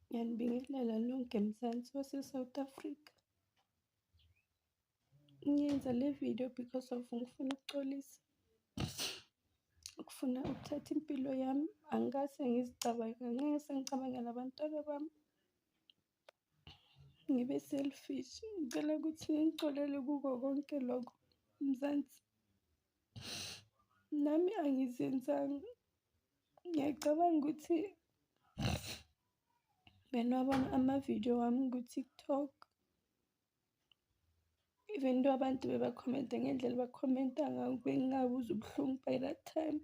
ngiyanibingelela lonke mzansi wase-south africa ngiyenza le video because of ngifuna ukuxolisa ukufuna ukuthatha impilo yami angikaze ngizicabange ngeke sengicabangela abantwana bami ngibe selfish ngicela ukuthi ngixolele kuko konke lokho mzansi nami angizenzanga ngiyacabanga ukuthi benwabona amavidiyo wami ku-tiktok even though abantu bebakhomente ngendlela bakhomenta ngayo bengingabuza ubuhlungu by that time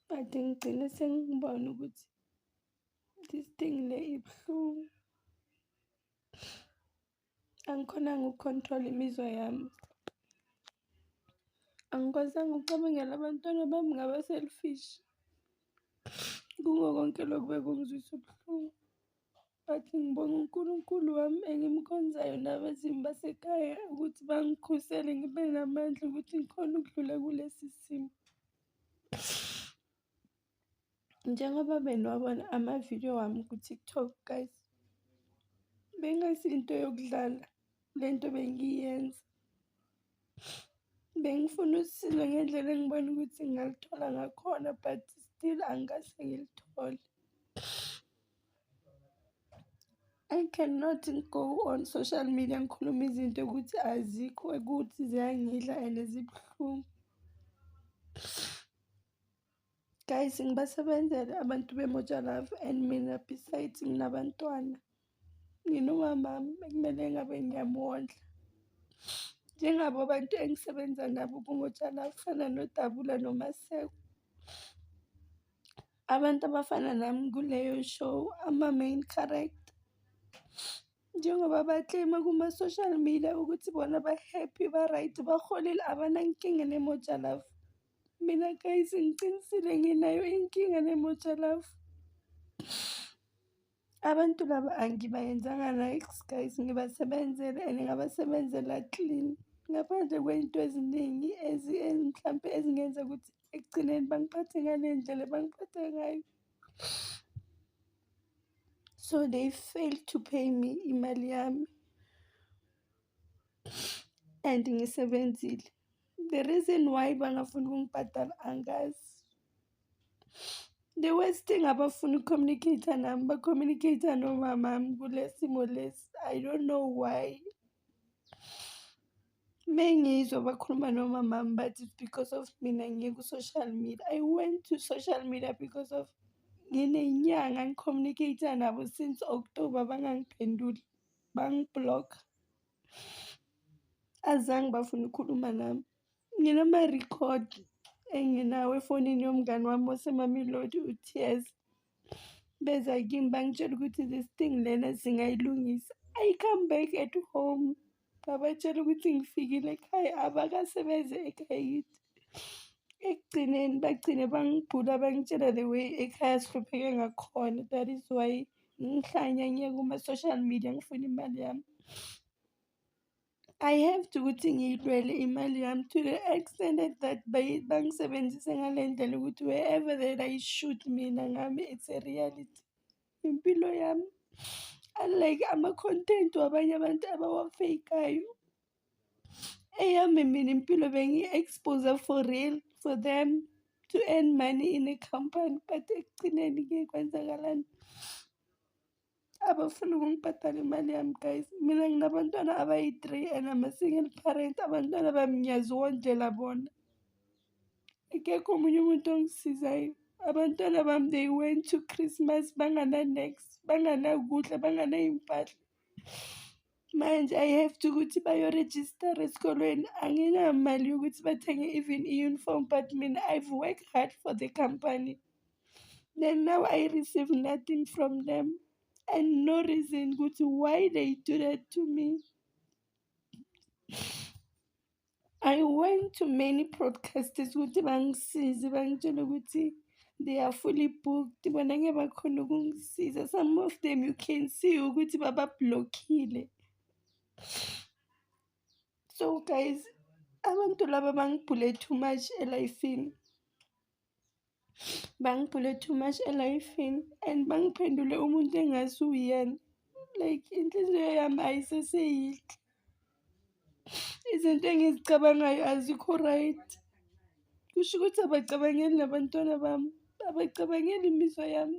but ngigcine sengibona ukuthi this thing le ibuhlungu angikhonanga ukucontrola imizwa yami angikwazanga ukucabangela abantwana bami ngaba-selfish kuko konke lokhu bekungizwisa ubuhlungu but ngibonga uNkulunkulu wami engimkhonzayo nabezimu basekhaya ukuthi bangikhusele ngibe namandla ukuthi ngikhona ukudlula kulesi simo njengoba beniwabona amavidiyo wami ku-tiktok guys bengayisiyinto yokudlala le nto bengiyenza Bengifuna usizo ngendlela engibona ukuthi ngingaluthola ngakhona but still angikaze ngilithole. I cannot go on social media ngikhulume izinto ukuthi azikho ukuthi ziyangidla and zibuhlungu. Guys, ngibasebenzele abantu beMoja Love and mina besides nginabantwana. Nginomamami ekumele ngabe ngiyamondla. Njengabo abantu engisebenza nabo kuMoja Love kufana noDabula noMaseko. Abantu abafana nami kuleyo show ama-main character. Njengoba bakleyima kuma-social media ukuthi bona ba-happy, ba-right, baholile abanankinga neMoja Love. Mina guys ngiqinisile nginayo inkinga nemoja love. Abantu laba angibayenzanga likes guys ngibasebenzele and ngabasebenzela clean ngaphandle kwey'nto eziningi mhlampe ezingenza ukuthi ekugcineni bangiphathe ngale ndlela bangiphathe ngayo. So they failed to pay me imali yami and ngisebenzile. The reason why bangafuni ukungibhadala angazi. The worst thing abafuni ukucommunicate nami bacommunicate nomamami kule simo lesi. I don't know why. Mengizwa bakhuluma nomamami but it's because of mina ngiye ku-social media. I went to social media because of nginenyanga ngicommunicate nabo since October bangangiphenduli, bangiblock. azange bafuna ukukhuluma nami nginama-record enginawo efonini yomngani wami osemamelodi u-tears beza kimi bangitshela ukuthi this thing lena singayilungisa i come back at home ngabatshela ukuthi ngifikile ekhaya abakasebenze ekhaya yithi ekugcineni bagcine bangibhula bangitshela the way ekhaya sihlupheke ngakhona that is why ngihlanya ngiye kuma-social media ngifuna imali yami I have to ukuthi ngiyilwele imali yami to the extent that bayi- bangisebenzise ngale ndlela ukuthi wherever that I shoot mina ngami it's a reality impilo yami unlike ama-content wabanye abantu abawafeyikayo eyami mina impilo bengi-expose for real for them to earn money in a company but ekugcineni ke kwenzakalani abafuni ukungibhadala imali yami guys mina nginabantwana abayi-three and ama single parent abantwana bami ngiyaziwondlela bona akekho omunye umuntu ongisizayo abantwana bami they went to christmas bangana-next banganakudla banganayimfahla manje i have to ukuthi bayorejistara esikolweni anginamali yokuthi bathenge even i-uniform but mina i've worked hard for the company then now i receive nothing from them and no reason ukuthi why they do that to me I went to many broadcasters ukuthi bangisize bangitshela ukuthi they are fully booked bona ngeke bakhona ukungisiza some of them you can see ukuthi babablockile so guys abantu laba bangibhule too much elifini Bangibhule too much elifini and bangiphendule umuntu engazi uyena. Like inhliziyo yami ayiseseyinhle. Izinto engizicabangayo azikho right. Kusho ukuthi abacabangeli nabantwana bami, abacabangeli imizwa yami.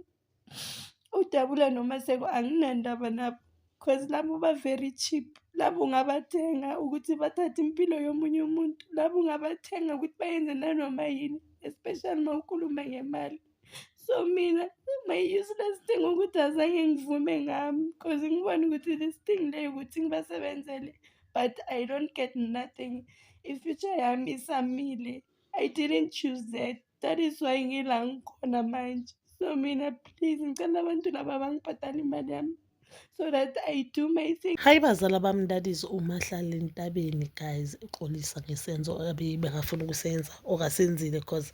udabula nomaseko anginandaba nabo cause labo ba-very cheap labo ungabathenga ukuthi bathathe impilo yomunye umuntu labo ungabathenga ukuthi bayenze nanoma yini especially uma ukhuluma ngemali so mina my useless thing ukuthi azange ngivume ngami cause ngibona ukuthi this thing leyo ukuthi ngibasebenzele but i don't get nothing ifuture yami isamile I didn't choose that. That is why ngila ngikhona manje. So mina please ngicela abantu laba bangibhadale imali yami. So that I do my thing. Hayi bazala bami that is umahlala entabeni guys uxolisa ngesenzo abebengafuna ukusenza okasenzile because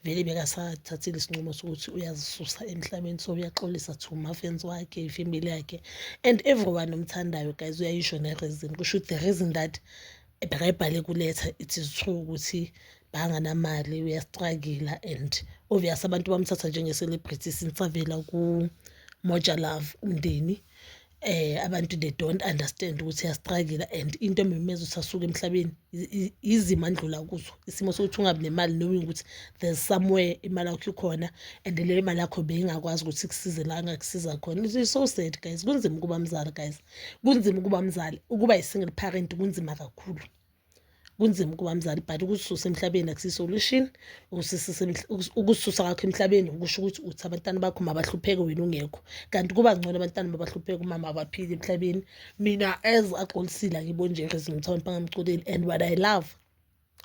vele bekasathathile isinqumo sokuthi uyazisusa emhlabeni so uyaxolisa to mafans wakhe ifamily yakhe and everyone omthandayo guys uyayisho ne-reason kusho ukuthi the reason that ebhakayibhale kuletha it is true ukuthi banganamali uyastragila and obvious abantu bamthatha njenge-celebrity since avela ku-moja love umndeni eh abantu they don't understand ukuthi uyastragila and into ememeza ukuthi asuke emhlabeni izima ndlula kuzo isimo sokuthi ungabi nemali knowing ukuthi there's somewhere imali yakho ikhona and leyo mali yakho beyingakwazi ukuthi kusize la ngakusiza khona it's so sad guys kunzima ukuba mzali guys kunzima ukuba mzali ukuba yi-single parent kunzima kakhulu kunzima ukuba mzali but ukususa emhlabeni akusi-solution ukususa kakho emhlabeni ukusho ukuthi uthi abantwana bakho mabahlupheke wena ungekho kanti kuba ngcono abantwana mabahlupheke umama abaphile emhlabeni mina as agcolisile akibonje rezinto mthombe angamcoleli and what i love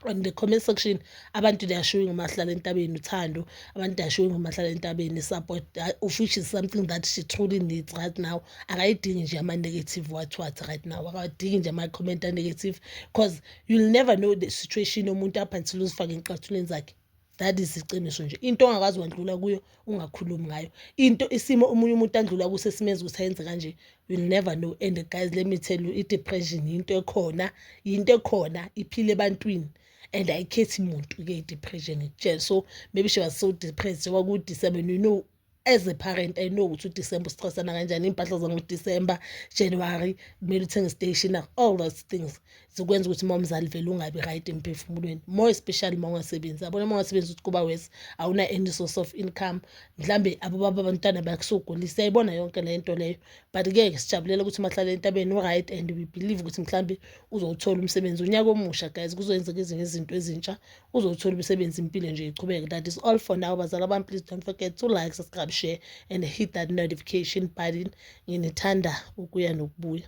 on the comment section abantu they are showing umahlala entabeni uthando abantu they are showing umahlala entabeni support uh, which is something that she truly needs right now akayidingi nje ama-negative what what right now akadingi nje ama-comment a-negative because you'll never know the situation yomuntu up until uzifake encathulweni zakhe that is iqiniso nje into ongakazi wandlula kuyo ungakhulumi ngayo into isimo omunye umuntu andlula kuso esimenza ukuthi ayenze kanje you'll never know and guys let me tell you i-depression yinto ekhona yinto ekhona iphile ebantwini and ayikhethi muntu-ke i-depression ngikutshela so maybe she was so depressed njengoba kuwu-december you know as a parent i know ukuthi udisemba usichasana kanjani iy'mpahla zangoDisemba January kumele uthenge i-stationer all those things zikwenza ukuthi uma umzali vele ungabi right emphefumulweni more especially uma ungasebenzi abona uma ungasebenzi ukuthi kuba wesi awuna any source of income mhlawumbe abobaba abantwana bakusugulisa yayibona yonke le nto leyo but ke sijabulela ukuthi umahlale entabeni u-right and we believe ukuthi mhlawumbe uzowuthola umsebenzi unyaka omusha guys kuzoyenzeka ezinye izinto ezintsha uzowuthola umsebenzi impilo nje iqhubeke that is all for now bazala bami please don't forget to like subscribe share and hit that notification button nginithanda ukuya nokubuya